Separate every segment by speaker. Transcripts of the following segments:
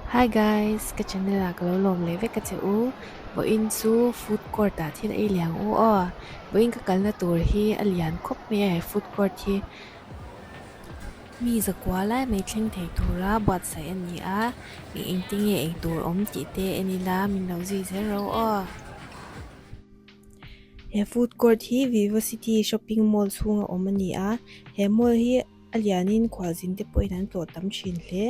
Speaker 1: Hi guys, ka channel ah ka lo lawm leh vek ka che u Vawiin chu food court ah thil ei leh ang u aw Vawiin ka kalna tur hi a lian khawp mai a he food court hi. Mi zakua lai mai thleng thei tura buatsaih a ni a, mi engti nge eng tur awm tih te en ila min lo zui zel ro aw. He food court hi Vivocity shopping mall chhunga awm a ni a, he mall hi a lianin khualzin te pawhin an tlawh tam thin hle.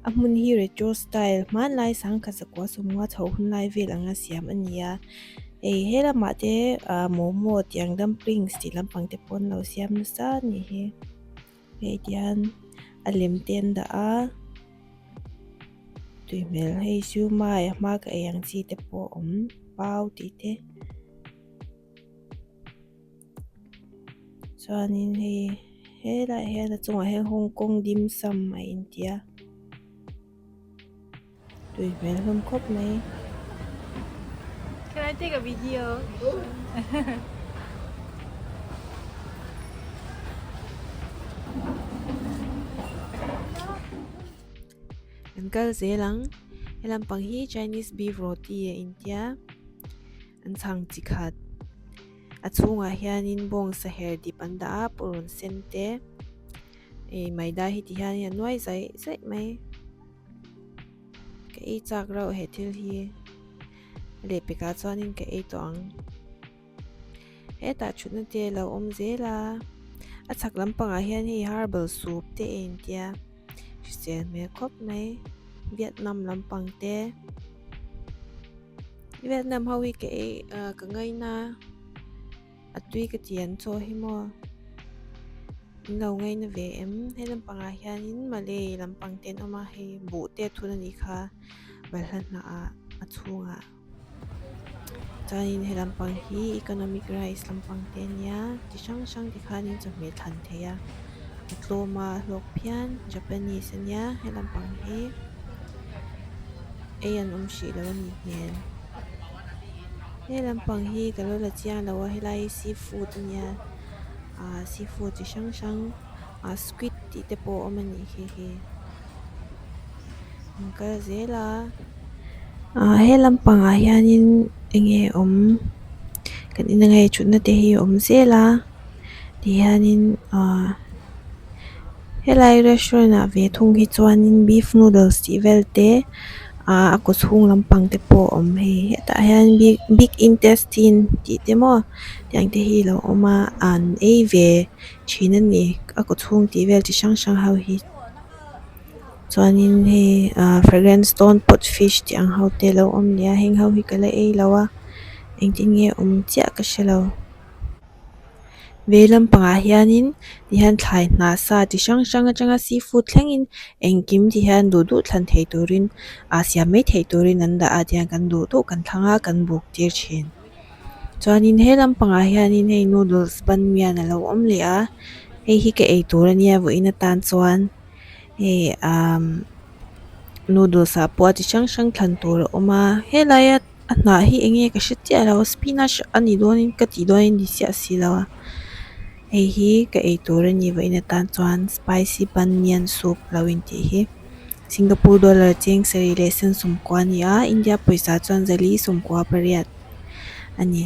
Speaker 1: A hmun hi retro style hmanlai sangkhat zakua sawmnga chho hun lai vel anga siam a ni a, hei he lamah te momo tiang dumplings tih lampang te pawh an lo siam nasa a nih hi. Hei tian a lem te an dah a, tui hmel hei chu mai a hma ka ei ang chi te pawh a awm, pau tih te. Chuanin hei he laiah hian a chungah hian Hawng Kawng Dim Sum a intia. Tui hmel hlawm khawp mai. Can I take a video? An kal zel ang. He lampang hi Chinese beef roti a intia. An chhang chi khat. A chhungah hianin bawng saher dip an dah a, pawrawn sen te. Ei maida hi ti hianin a nuai zai zai mai. Ka ei chak rauh he thil hi leh pekah chuanin ka ei tawh ang. Hetah thutna te lo awm zel a, a chhak lampangah hian hei herbal soup te a intia hrisel hmel khawp mai Vietnam lampang te. Vietnam ho hi ka ei ka ngaina. A tui ka ti an chaw hi maw? Min lo ngaih na ve em? He lampangah hianin Malay lampang te an awm a, hei buh te thun a nih kha balhla hnah a chhungah. Chuanin he lampang hi economic rice lampang te a nia, chi hrang hrang te khanin chawhmeh thlan theih a. A tlawma a hlawk phian Japanese a nia he lampang hi, ei an awm hrih loh a nih hmel. He lam pang hi ka lo la chiang lo a helai hi sea food a nia ahh sea food chi hrang hrang ahh squid tih te pawh a awm a nih hei hi an kal zel a ahh he lam pang ah hian in eng nge awm kan en ang nge thut na te hi a awm zel a ti hian in ahh-- Helai restaurant ah ve thung hi chuanin beef noodles tih vel te ahh a kut hung lampang te pawh awm hei hetah hian big big intestine tih te maw tiang te hi alo awm a an ei ve thin a ni a kut chhung tih vel chi hrang hrang ho hi chuanin hei ahh fragrance dawn pawt fish tih ang ho te alo awm nia heng ho hi ka la ei lo a engtin nge awm chiah ka hrelo. Vei lampangah hianin ti hian thlai hna sa chi hrang hrang atanga seafood thlengin engkim ti hian duh duh thlan thei turin ah siam mai thei turin an dah a tiang kan duh duh kan thlang a kan buk tir thin chuanin he lampangah hianin hei noodles banmian a lo awm leh a hei hi ka ei tur ania vawiin atan chuan hei umm noodles ah pawh a chi hrang hrang thlan tur a awm a helaia-- a hnah hi eng nge ka hre chiah lo a spinach a ni dawn in ka tih dawn in ni chiah si lo a hei hi ka ei tur a ni vahin atan chuan spicy banyan soup lo in tih hi singapore dollar cheng sarih leh sen sawmkua a ni a india pawisa chuan zali sawmkua pariat a ni.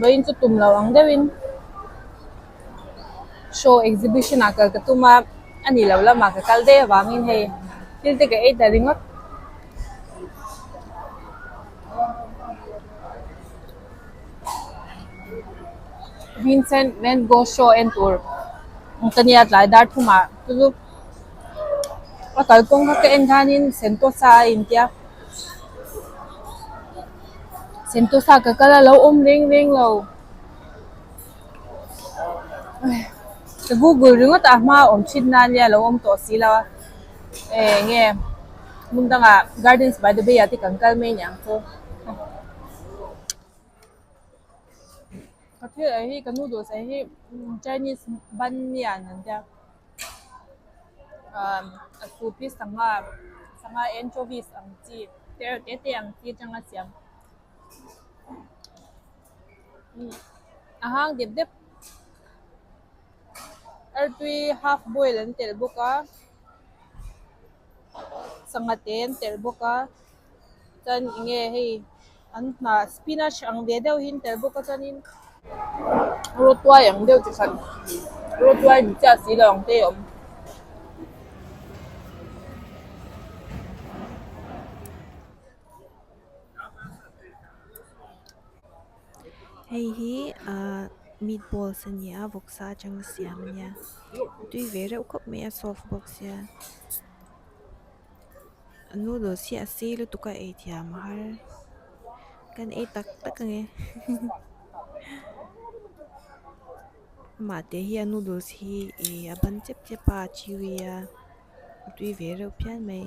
Speaker 1: Vawiin chu tum lo ang deuh in show exhibition ah kal ka tum a, a nih loh lamah ka kal daih avang in hei thil te ka ei ta ringawt. Vincent van Gogh show en tur ka nih a tlai dar thum ah chu chu a kalkawng kha ka en dan in sentawsa a intia. Sentosa ka kal alo awm reng reng lo. Ka Google ringawt a hma awm chhit nan hi alo awm tawh si lo a. Eeh nge Mundanga Gardens by the Bay ah te kan kal mai niang chu. Ka thil ah hi ka noodles ah hi Chinese ban lian an tia. umm a sufi sangha sangha anchovies ang chi terror te te ang chi atanga siam umm a hang dep dep artui half boil an telh bawk a sangha te an telh bawk a. Chuan enge hei an hna spinach ang ve deuh hi an telh bawk a, chuanin rawtuai ang deuh chi khat, rawtuai ni chiah si lo ang te hi a awm. Hei hi ahh meat balls a ni a, vawksa atanga siam a nia, a tui ve reuh khawp mai a, soft bawk sia. noodles hi a si lutuk a ei thiam har kan ei tak tak a ni mahte hian noodles hi ih a ban chep chep a a ṭhi vel a a tui ve reuh phian mai.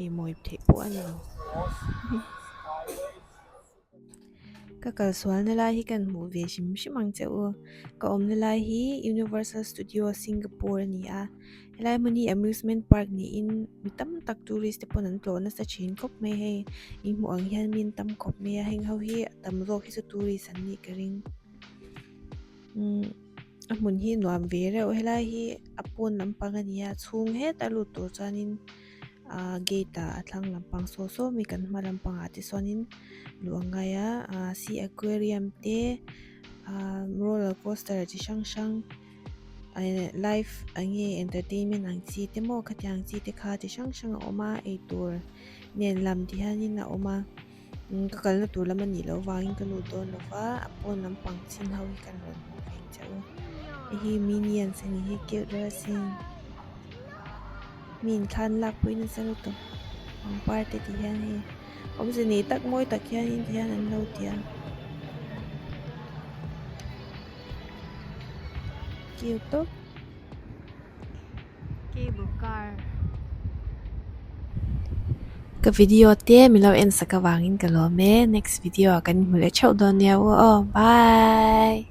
Speaker 1: Ei mawi theih pawh a ni lo. Ka kal sualna lai hi kan hmuh ve hrim hrim ang che u. Ka awmna lai hi Universal Studios Singapore a ni a. Helai hmun hi amusement park niin mi tam tak tourist te pawh an tlawh nasa thin khawp mai hei. I hmuh ang hian mi an tam khawp mai a, heng ho hi a tam zawk hi chu tourist an nih ka ring. a hmun hi nuam ve reuh a helai hi a pawn lampang a ni a chhung het a lut tur chuanin ahh gate ah a thlang lampang sawi sawi mai kan hma lampang ah te chuanin luh ang ngai a ah si aquarium te ah roller coaster chi hrang hrang eh life eng nge entertainment ang chi te maw khatiang chi te kha chi hrang hrang a awm a eitur nen lam ti hian in a awm a. Ka kalna tur lam anih loh vangin ka lut dawn lo va, a pawn lampang chin ho hi kan rawn hmuh vek chiah u. Hei hi minions a nih hi, characters hi min thlan lak pawhin a sa lut tawh. Pangpar te tih hian hei awmze nei tak mawi tak hian in tihian an lo ti a. Cute tawp. Cable car. Ka video te milo en saka vangin ka lawm e next video ah kan hmu leh theuh dawn nia u aw bye.